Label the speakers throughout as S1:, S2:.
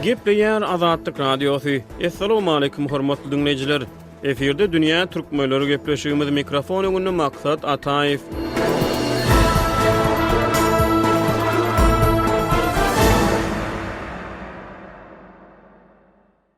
S1: Gepleýär Azatlyk Radiosy. Assalamualaikum hormatly dinleýjiler. Efirde dünýä türkmenleri gepleşigimiz mikrofon öňünde maksat Ataýew.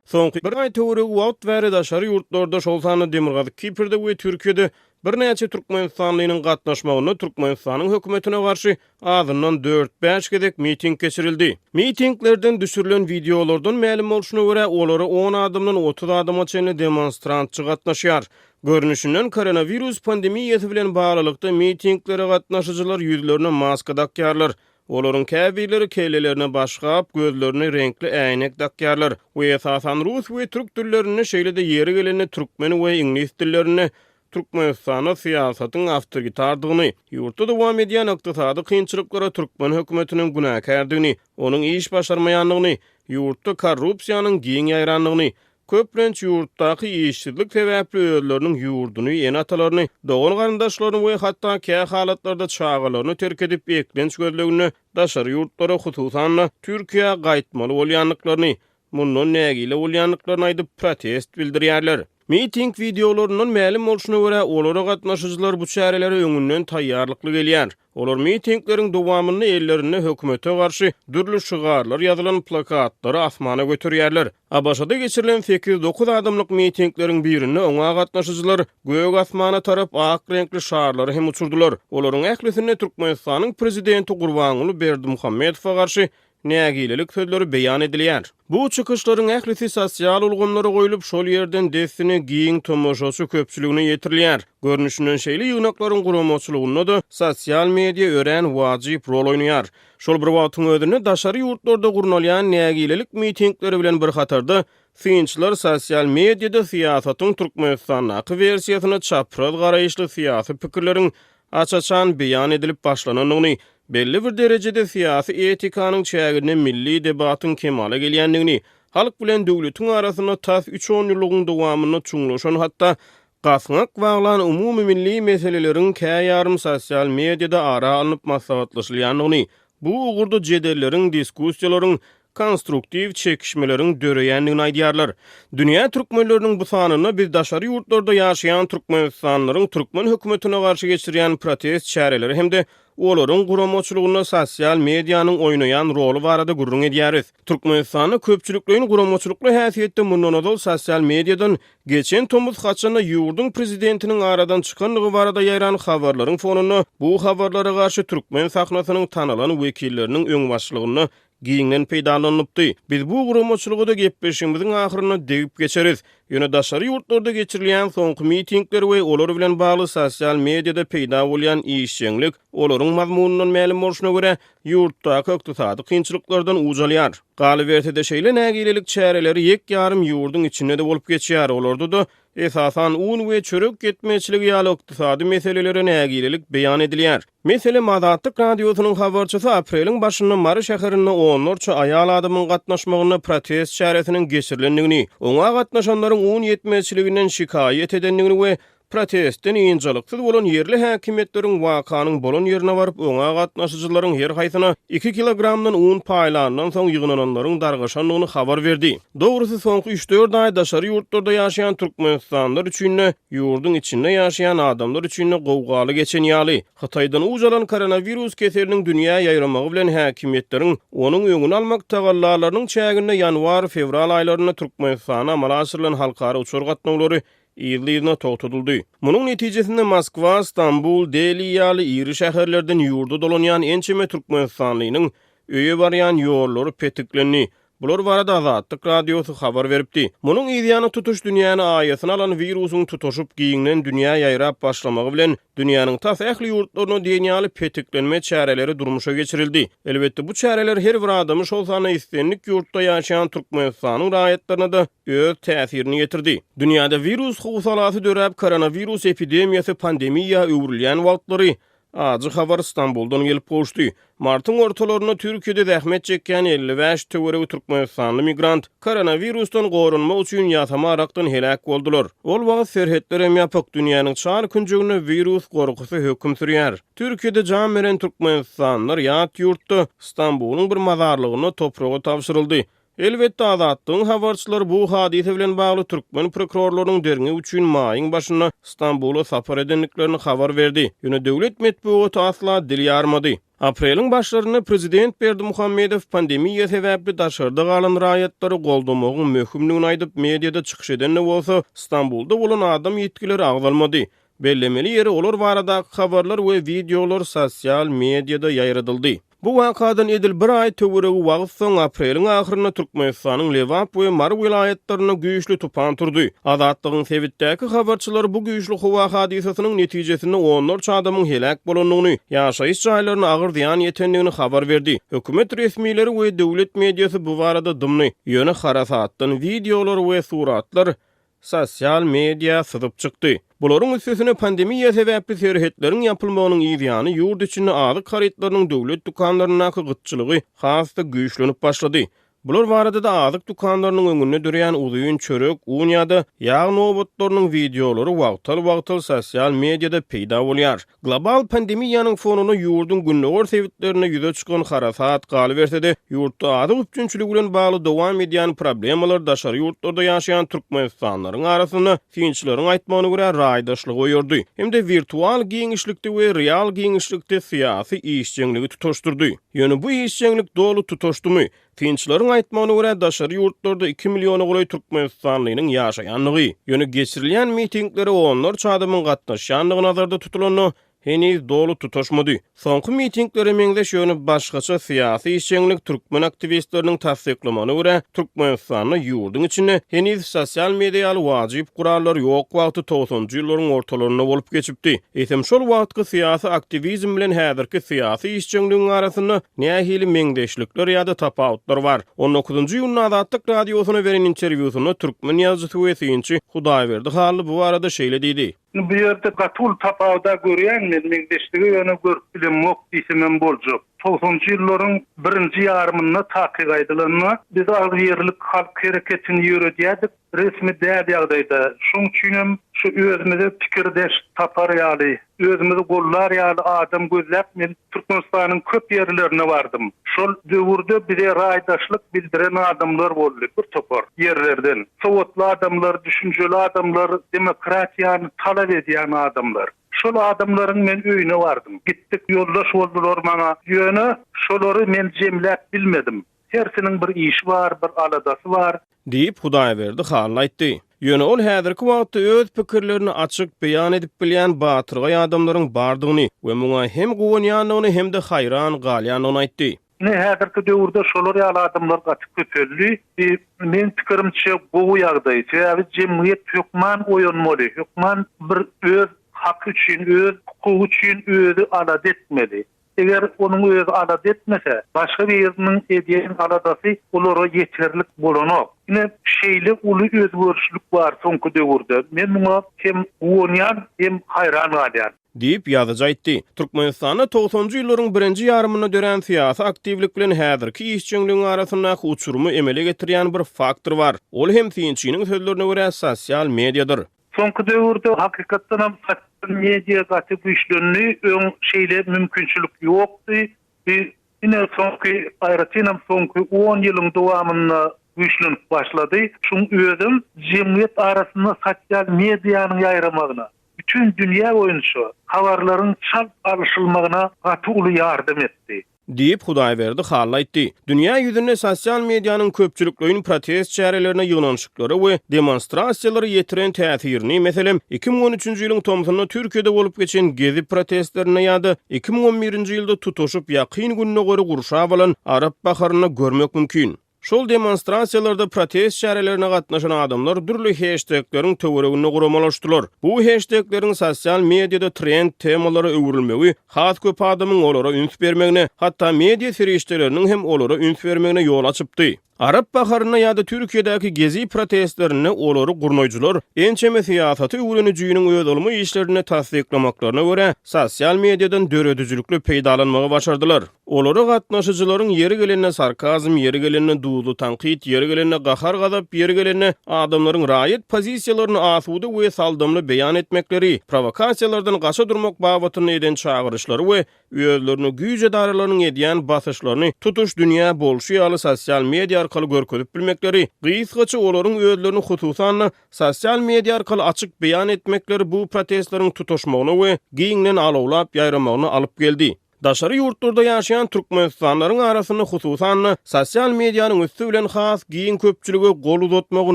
S1: Soňky bir aý töweregi wagt bäri daşary ýurtlarda, şol sanda Demirgazyk Kiprde we Türkiýede birnäçe türkmenistanlynyň gatnaşmagynda Türkmenistanyň hökümetine garşy azyndan dört-bäş gezek miting geçirildi. Mitinglerden düşürilen wideolardan mälim bolşuna görä, olara on adamdan otuz adama çenli demonstrantçy gatnaşýar. Görnüşinden, koronawirus pandemiýasy bilen baglylykda mitinglere gatnaşyjylar ýüzlerine maska dakýarlar, Olaryň käbirleri kellelerine başgap, gözlerine reňkli äýnek dakýarlar we esasan rus we türk dillerinde, şeýle-de ýeri gelende türkmen we iňlis dillerinde Türkmenistanda syýasatyň awtoritardygyny, ýurtda dowam edýän ykdysady kynçylyklara türkmen hökümetiniň günäkärdigini, onuň iş başarmaýandygyny, ýurtda korrupsiýanyň giň ýaýrandygyny, köplenç ýurtdaky işsizlik sebäpli özleriniň ýurduny, ene-atalaryny, dogan-garyndaşlaryny we hatda kä halatlarda çagalaryny terk edip, eklenç gözleginde daşary ýurtlara, hususan-da, Türkiýä gaýtmaly bolýandyklaryny, mundan nägile bolýandyklaryny aýdyp, protest bildirýärler. Miting wideolaryndan mälim bolşuna görä, olara gatnaşyjylar bu çärelere öňünden taýýarlykly gelýär. Olar mitingleriň dowamynda ellerinde hökümete garşy dürli şygarlar ýazylan plakatlary asmana göterýärler. ABŞ-da geçirilen sekiz-dokuz adamlyk mitingleriň birinde oňa gatnaşyjylar gök asmana tarap ak reňkli şarlary hem uçurdylar. Olaryň ählisinde Türkmenistanyň prezidenti Gurbanguly Berdimuhamedowa garşy nägilelik sözleri beýan edilýär. Bu çykyşlaryň ählisi sosial ulgamlara goýlup, şol ýerden dessine giň tomaşaçy köpçüligine ýetirilýär. Görnüşinden şeýle ýygnaklaryň guramaçylygynda-da sosial media örän wajyp rol oýnaýar. Şol bir wagtyň özünde daşary ýurtlarda gurnalýan nägilelik mitingleri bilen bir hatarda, synçylar sosial mediada syýasatyň Türkmenistandaky wersiýasyna çapraz garaýyşly syýasy pikirleriň aç-açan beýan edilip başlanandygyny, belli bir derejede syýasy etikanyň çäginde milli debatyň kemala gelýändigini, halk bilen döwletiň arasynda tas üç onýyllygyň dowamynda çuňlaşan hatda gaňak baglan umumymilli meseleleriň käýarym sosial mediada ara alnyp maslahatlaşylýandygyny, Bu ugurda jedelleriň, diskussiýalaryň, konstruktiw çekişmeleriň döreýändigini aýdýarlar. Dünýä türkmenleriniň bu sanynda biz daşary ýurtlarda ýaşaýan türkmenistanlylaryň türkmen hökümetine garşy geçirýän protest çäreleri hem-de olaryň guramaçylygynda sosial medianyň oýnaýan roly barada gürrüň edýäris. Türkmenistanda köpçülikleýin guramaçylykly häsiýetde mundan ozal sosial mediadan geçen tomus haçanda ýurduň prezidentiniň aradan çykandygy barada ýaýran habarlaryň fonunda bu habarlara garşy türkmen sahnasynyň tanalan wekilleriniň öňbaşçylygynda giňden peýdalanylypdy. Biz bu guramaçylyga-da gepleşigimiziň ahyrynda degip geçeris. Ýöne daşary ýurtlarda geçirilýän soňky mitingler we olar bilen bagly sosial mediada peýda bolýan işjeňlik olaryň mazmunyndan mälim bolşuna görä, ýurtdaky ykdysady kynçylyklardan uj alýar. Galyberse-de, şeýle nägilelik çäreleri ýek-ýarym ýurduň içinde-de bolup geçýär, olarda-da, esasan, un we çörek ýetmezçiligi ýaly ykdysady meselelere nägilelik beýan edilýär. Meselem, Azatlyk Radiosynyň habarçysy apreliň başynda Mary şäherinde onlarça aýal adamyň gatnaşmagynda protest çäresiniň geçirilendigini, oňa gatnaşanlaryň un ýetmezçiliginden şikaýat edendigini we Protestden ynjalyksyz bolan ýerli häkimiýetleriň wakanyň bolan ýerine baryp, oňa gatnaşyjylaryň her haýsyna iki kilogramdan un paýlandan soň ýygnananlaryň dargaşandygyny habar berdi. Dogrusy, soňky üç-dört aý daşary ýurtlarda ýaşaýan türkmenistanlylar üçin-de, ýurduň içinde ýaşaýan adamlar üçin-de gowgaly geçen ýaly. Hytaýdan uç alan koronawirus keseliniň dünýä ýaýramagy bilen häkimiýetleriň onuň öňüni almak tagallalarynyň çäginde ýanwar-fewral aýlarynda Türkmenistana amala aşyrylan halkara uçar gatnawlary yzly-yzyna togtadyldy. Munuň netijesinde Moskwa, Stambul, Deli ýaly iri şäherlerden ýurda dolanýan ençeme türkmenistanlynyň öýe barýan ýollary petiklendi. Bular barada Azatlyk Radiosy habar beripdi. Munuň yzýany tutuş dünýäni aýasyna alan wirusyň tutaşyp giňden dünýä ýaýrap başlamagy bilen, dünýäniň tas ähli ýurtlaryna diýen ýaly petiklenme çäreleri durmuşa geçirildi. Elbetde, bu çäreler her bir adamy, şol sanda islendik ýurtda ýaşaýan Türkmenistanyň raýatlaryna-da öz täsirini ýetirdi. Dünýäde wirus howsalasy döräp, koronawirus epidemiýasy pandemiýa öwrülýän wagtlary, ajy habar Stambuldan gelip gowuşdy. Martyň ortalarynda Türkiýede zähmet çekýän elli bäş töweregi türkmenistanly migrant koronawirusdan goranmak üçin ýasama arakdan heläk boldular. Ol wagt serhetler hem ýapyk, dünýäniň çar künjeginde wirus gorkusy höküm sürýär. Türkiýede jan beren türkmenistanlylar ýat ýurtda, Stambulyň bir mazarlygynda topraga tabşyryldy. Elbetde, Azatlygyň habarçylary bu hadysa bilen bagly türkmen prokurorlarynyň derňew üçin maýyň başynda Stambula sapar edendiklerini habar berdi, ýöne döwlet metbugaty asla dil ýarmady. Apreliň başlarynda prezident Berdimuhamedow pandemiýa sebäpli daşarda galan raýatlary goldamagyň möhümdigini aýdyp, mediada çykyş edende bolsa, Stambulda bolan adam ýitgileri agzalmady. Bellemeli ýeri, olar baradaky habarlar we wideolar sosial mediada ýaýradyldy. Bu wakadan edil bir aý töweregi wagt soň, apreliň ahyrynda Türkmenistanyň Lebap we Mary welaýatlarynda güýçli tupan turdy. Azatlygyň sebitdäki habarçylary bu güýçli howa hadysasynyň netijesinde onlarça adamyň heläk bolandygyny, ýaşaýyş jaýlaryna agyr zyýan ýetendigini habar berdi. Hökümet resmileri we döwlet mediasy bu barada dymdy, ýöne harasatdan wideolar we suratlar sosial media syzyp çykdy. Bularyň üstesine pandemiýa sebäpli serhetleriň ýapylmagynyň yz ýany ýurt içinde azyk harytlarynyň döwlet dükanlaryndaky gytçylygy has-da güýçlenip başlady. Bular barada-da azyk dükanlarynyň öňünde dörýän uzyn çörek, un ýa-da ýag nobatlarynyň wideolary wagtal-wagtal sosial mediada peýda bolýar. Global pandemiýanyň fonunda ýurduň gündogar sebitlerinde ýüze çykan harasat, galyberse-de, ýurtda azyk üpjünçiligi bilen bagly dowam edýän problemalar daşary ýurtlarda ýaşaýan türkmenistanlylaryň arasynda, synçylaryň aýtmagyna görä, raýdaşlygy oýardy hem-de wirtual giňişlikde we real giňişlikde syýasy işjeňligi tutaşdyrdy. Ýöne bu işjeňlik doly tutaşdymy? Synçylaryň aýtmagyna görä, daşary ýurtlarda iki milliona golaý türkmenistanlynyň ýaşaýandygy, ýöne geçirilýän mitinglere onlarça adamyň gatnaşýandygy nazarda tutulanda, heniz doly tutaşmady. Soňky mitinglere meňzeş, ýöne başgaça syýasy işjeňlik türkmen aktiwistleriniň tassyklamagyna görä, Türkmenistanda ýurduň içinde heniz sosial media ýaly wajyp gurallar ýok wagty togsanjy ýyllaryň ortalarynda bolup geçipdi. Eýsem, şol wagtky syýasy aktiwizm bilen häzirki syýasy işjeňligiň arasynda Nähili meňzeşlikler ýa-da tapawutlar bar? On dokuzynjy iýunda Azatlyk Radiosyna beren interwýusynda türkmen ýazyjysy we synçy Hudaýberdi Hally bu barada şeýle diýdi. Indi bu ýerde gaty
S2: uly tapawuda görýän men, meňzeşligi ýöne görüp bilemok diýsemem boljak. Togsanjy ýyllaryň birinji ýarymynda takyk aýdylanda, biz agzybirlik halk hereketini ýöredýärdik. Resmi däl ýagdaýda, şoň üçin hem şu özümize pikirdeş tapar ýaly, özümizi gollar ýaly adam gözläp men Türkmenistanyň köp ýerlerine bardym. Şol döwürde bize raýdaşlyk bildiren adamlar boldy, bir topar ýerlerden. Sowatly adamlar, düşünjeli adamlar, demokratiýany talap edýän adamlar. Şol adamlaryň men öýüne bardym. Gitdik, ýoldaş boldular maňa. Ýöne şolary men jemläp bilmedim. Hersiniň bir işi bar, bir aladasy bar. Diýip, Hudaýberdi halyna aýtdy. Ýöne ol häzirki wagtda öz pikirlerini açyk beýan edip bilýän batyrgaý adamlaryň bardygyny we muňa hem guwanýandygyny hem-de haýran galýandygyny aýtdy. Ine, häzirki döwürde şolar ýaly adamlar gaty köpeldi. Bi, meň pikirimçe, gowy ýagdaý. Sebäbi jemgyýet hökman oýanmaly, hökman bir öz haky üçin, öz hukugy üçin özi alada etmeli. Eger onuň özi alada etmese, başga biriniň edýän aladasy olara ýeterlik bolanok. Ine, şeýle uly özgerişlik bar soňky döwürde. Men muňa hem guwanýan, hem haýran galýan. Diýip, ýazyjy aýtdy. Türkmenistanda togsanjy ýyllaryň birinji ýarymynda dörän syýasy aktiwlik bilen häzirki işjeňligiň arasyndaky uçurymy emele getirýän bir faktor bar. Ol hem synçynyň sözlerine görä sosial mediýadyr. Soňky döwürde hakykatdanam sosial media gaty güýçlendi, öň şeýle mümkinçilik ýokdy, bi ine soňky, aýratynam soňky on ýylyň dowamynda güýçlenip başlady, şuň özem jemgyýet arasynda sosial medianyň ýaýramagyna, bütin dünýä boýunça habarlaryň çalt alyşylmagyna gaty uly ýardam etdi. Diýip, Hudaýberdi Hally aýtdy. Dünýä ýüzünde sosial medianyň köpçülikleýin protest çärelerine ýygnanyşyklary we demonstrasiýalary ýetiren täsirini, meselem, iki müň on üçünji ýylyň tomsunda Türkiýede bolup geçen Gezi protestlerinde ýa-da iki müň on birinji ýylda tutuşyp ýakyn Gündogary gurşap alan Arap baharynda görmek mümkin. Şol demonstrasiýalarda protest çärelerine gatnaşan adamlar dürli heştegleriň töwereginde guramalaşdylar. Bu heştegleriň sosial mediada trend temalara öwrülmegi has köp adamyň olara üns bermegine, hatda media serişdeleriniň hem olara üns bermegine ýol açypdy. Arap baharynda ýa-da Türkiýedäki Gezi protestlerinde olary gurnaýjylar ençeme syýasaty öwrenijiniň öz ylmy işlerinde tassyklamaklaryna görä, sosial mediadan döredijilikli peýdalanmagy başardylar. Olara gatnaşyjylaryň ýeri gelende sarkazm, ýeri gelende duzly tankyt, ýeri gelende gahar-gazap, ýeri gelende adamlaryň raýat pozisiýalaryny asuda we saldamly beýan etmekleri, prowokasiýalardan gaça durmak babatynda eden çagyryşlary we özlerine güýç edaralarynyň edýän basyşlaryny tutuş dünýä bolşy ýaly sosial media arkaly
S1: görkezip bilmekleri, gysgaça olaryň özlerini hususan-da sosial media arkaly açyk beýan etmekleri bu protestleriň tutaşmagyna we giňden alawlap ýaýramagyna alyp geldi. Daşary ýurtlarda ýaşaýan türkmenistanlylaryň arasynda hususan-da, sosial medianyň ösdügi bilen has giň köpçülige gol uzatmagy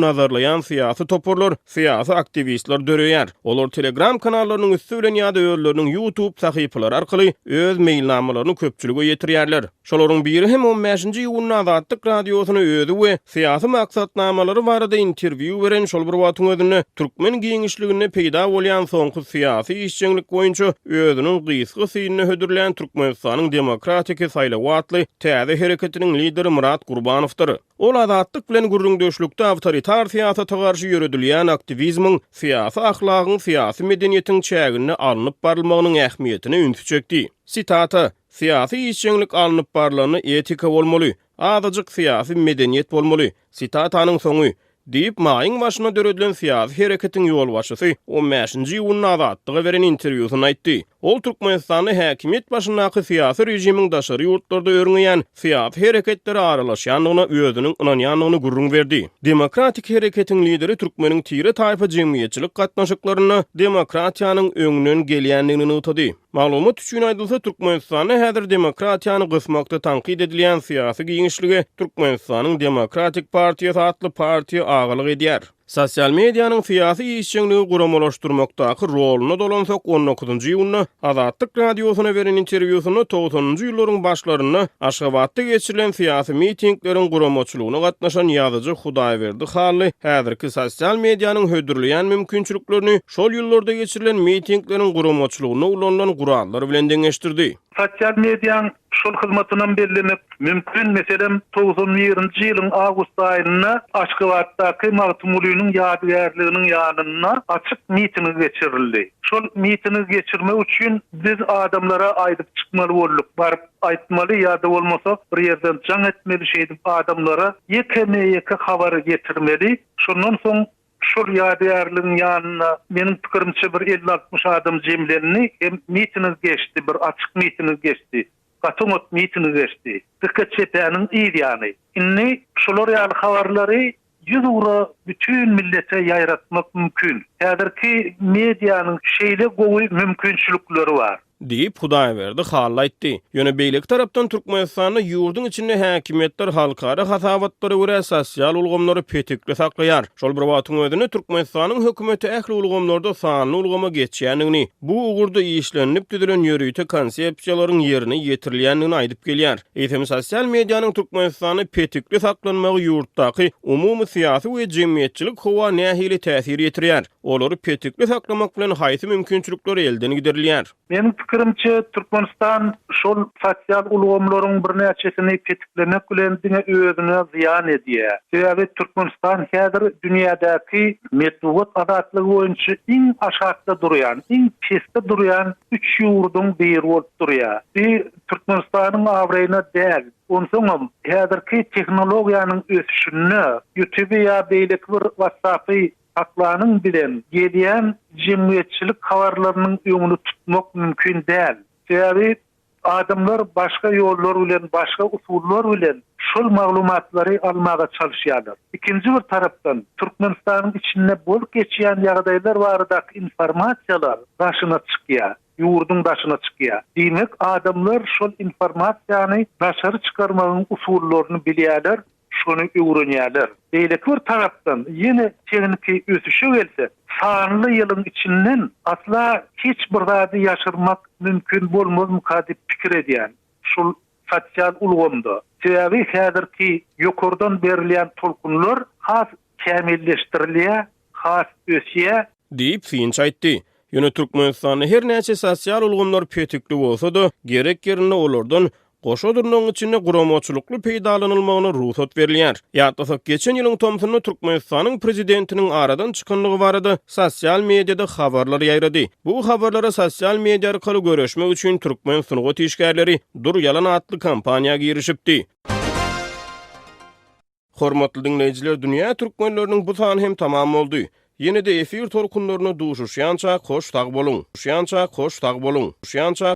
S1: nazarlaýan syýasy toparlar, syýasy aktiwistler döreýär. Olar Telegram kanallarynyň üsti bilen ýa-da özleriniň YouTube sahypalary arkaly öz meýilnamalaryny köpçülige ýetirýärler. Şolaryň biri hem on bäşinji iýunda Azatlyk Radiosyna özi we Syýasy maksatnamalary barada interwýu beren şol bir wagtyň özünde türkmen giňişliginde peýda bolýan soňky syýasy işjeňlik boýunça özüniň gysga synynda hödürlän Türkmenistanyň demokratiki saýlawy atly täze hereketiniň lideri Myrat Gurbanowdyr. Ol Azatlyk bilen gürrüňdeşlikde awtoritar syýasata garşy ýöredilýän aktiwizmiň, syýasy ahlagyň, syýasy medeniýetiň çäginde alnyp barylmagynyň ähmiýetine ünsi çekdi. Sitata, Syýasy işjeňlik alnyp barylanda etika bolmaly, Azajyk syýasy medeniýet bolmaly. Sitatanyň soňy. Diýip, maýyň başyna döredilen syýasy hereketiň ýolbaşçysy on bäşinji iýunda Azatlyga beren interwýusynda aýtdy. Ol Türkmenistanda häkimiýet başyndaky syýasy režimiň daşary ýurtlarda örňeýän syýasy hereketlere aralaşýandygyna özüniň ynanýandygyny gürrüň berdi. Demokratik hereketiň lideri türkmeniň tire-taýpa jemgyýetçilik gatnaşyklarynda demokratiýanyň öňden gelýändigini nygtady. Maglumat üçin aýdylsa, Türkmenistanda häzir demokratiýany gysmakda tankyt edilýän syýasy giňişlige Türkmenistanyň Demokratik partiýasy atly partiýa agalyk edýär. Sosial medianyň syýasy işjeňligi guramalaşdyrmakdaky roluna dolansak, on dokuzynjy iýunda Azatlyk Radiosyna beren interwýusynda togsanynjy ýyllaryň başlarynda Aşgabatda geçirilen syýasy mitingleriň guramaçylygyna gatnaşan ýazyjy Hudaýberdi Hally häzirki sosial medianyň hödürleýän mümkinçiliklerini Şol ýyllarda geçirilen mitingleriň guramaçylygynda ulanylan gurallar bilen deňeşdirdi. Sosial mediaň
S2: şol hyzmatynam bellemek mümkin, meselem, togsan birinji ýylyň awgust aýynda Aşgabatdaky Magtymgulynyň ýadygärliginiň ýanynda açyk mitingi geçirildi. Şol mitingi geçirmek üçin biz adamlara aýdyp çykmaly bolduk, baryp aýtmaly ýa-da bolmasa bir ýerden jaň etmeli, şeýdip adamlara ýekeme-ýeke habary ýetirmeli, şondan soň Şol ýadygärligiň ýanynda, meniň pikirimçe, bir elli-altmyş adam jemlendi hem mitingi geçdi, bir açyk mitingi geçdi, gaty oňat mitingi geçdi. Dika çepäniň yz ýany. Indi şular ýaly habarlary ýüz ugra bütin millete ýaýratmak mümkin. Häzirki medianyň şeýle gowy mümkinçilikleri bar. Diýip, Hudaýberdi
S1: Hally aýtdy. Ýöne beýleki tarapdan Türkmenistanda ýurduň içinde häkimiýetler halkara hasabatlara görä sosial ulgamlary petekli saklaýar. Şol bir wagtyň özünde Türkmenistanyň hökümeti ähli ulgamlarda sanly ulgama geçýändigini, bu ugurda işlenilip düzülen ýörite konsepsiýalaryň ýerine ýetirilýändigini aýdyp gelýär. Eýsem, sosial medianyň Türkmenistanda petekli saklanmagy ýurtdaky umumy syýasy we jemgyýetçilik howa nähili täsir ýetirýär? Olary petikli saklamak bilen haýsy mümkinçilikler elden giderilýär? Meniň pikirimçe,
S2: Türkmenistan şol sosial ulgamlaryň birnäçesini petiklemek bilen diňe özüne zyýan edýär. Sebäbi Türkmenistan häzir dünýädäki metbugat azatlygy boýunça iň aşakda durýan, iň pesde durýan üç ýurduň biri bolup durýar. Bu Türkmenistanyň abraýyna däl. Onsoňam, häzirki tehnologiýanyň ösüşinde Ýutuby ýa beýleki bir WhatsApp-y Aklanyň bilen gelýän jemgyýetçilik habarlarynyň öňüni tutmak mümkin däl. Sebäbi adamlar başga ýollar bilen, başga usullar bilen şol maglumatlary almaga çalyşýarlar. Ikinji bir tarapdan, Türkmenistanyň içinde bolup geçýän ýagdaýlar baradaky informasiýalar daşyna çykýar, ýurduň daşyna çykýar. Diýmek, adamlar şol informasiýany daşary çykarmagyň usullaryny bilýärler Şony öwrenýärler. Beýleki bir tarapdan, ýene tehniki ösüşe gelsek, sanly ýylyň içinden asla hiç bir zady ýaşyrmak mümkin bolmazmyka diýip pikir edýän, şul sosial ulgamda. Sebäbi häzirki ýokardan berilýän tolkunlar has Kämilleşdirilýär, has ösýär. Diýip, Finç
S1: aýtdy. Ýöne Türkmenistanda her näçe sosial ulgamlar petikli bolsa-da, gerek ýerinde olardan goşa dyrnagyň içinde guramaçylykly peýdalanylmagyna rugsat berilýär. Ýatlasak, geçen ýylyň tomsunda Türkmenistanyň prezidentiniň aradan çykandygy barada sosial mediada habarlar ýaýrady. Bu habarlara sosial media arkaly göreşmek üçin türkmen sungat işgärleri Dur ýalan atly kampaniýa girişipdi. Hormatly diňleýjiler dünýä türkmenleriniň bu sany hem tamam boldy. Ýene-de efir tolkunlaryna duşuşýançak hoş sag boluň. Duşýançak hoş sag boluň. Duşýançak.